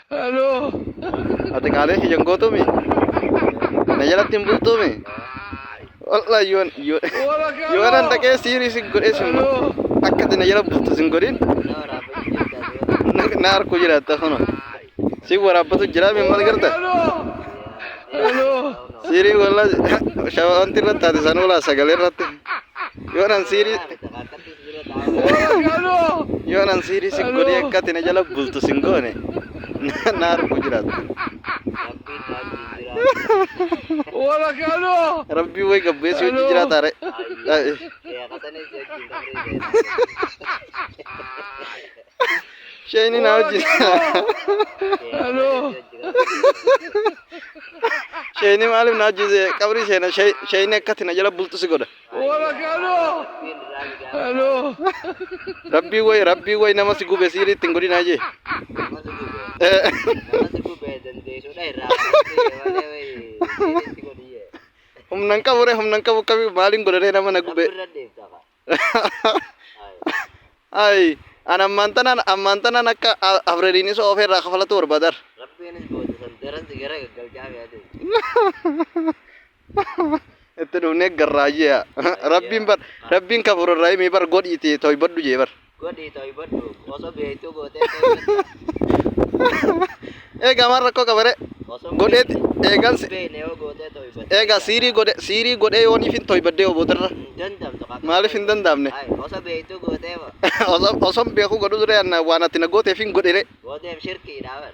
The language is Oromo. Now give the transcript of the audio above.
Halo. Ati qaalee kiyyan gootuumi. Na jalatti hin bultuumi. Wallah yoon yoon Wala kalo. yoon an dhaqee siirii sin godhee sin Halo. akka ati na jala bultu sin godhin na harkuu jiraatta kuno. Si waraabbatu jira min mal garta. Halo. Halo. Siirii wallah shawaanti irratti taate san oolaa sagalee irratti. Yoon an siirii Yoo nan siirii si godhee akka ati na jala bultu sin goone na argu jiraatu. Rabbii way gabbeessi hojii jiraata re. Shayni na hojii. Shayni maaliif na hojii qabrii seena shayni akka ati na jala bultu si godha. Rabbii way rabbii way nama si gube siiri ittiin godhin hayyee. Humna hin qabu ree humna hin qabu qabi maaliin godha ree nama na gube. Ayi an ammaan tanaan ammaan tanaan akka a- Abreliinis oofee irraa kafalatu barbaadar. Rabbiinis booda san daran si gara gaggalchaa fi adeemu. Itti dhufnee garraayyee yaa. Rabbiin bar Rabbiin kafuur irraa himii bar godhiiti toybadhu jee bar. Godhii ta'u baddu osoo beektuu gootee Eegaa maal rakkoo qabare? Godheeti eegansi. beekne yoo gootee ta'u baddu. Eegaa siirii godhe siirii godhee yooniif hin toybaddee oboodarra. Hin dandamtu qaba. Maaliif hin danda'amne? Ay, Osoo beektuu gootee ba. Osoo osoo beekuu godhu dura waan ati na gooteef hin godhire. Gooteef shirkiidha bar.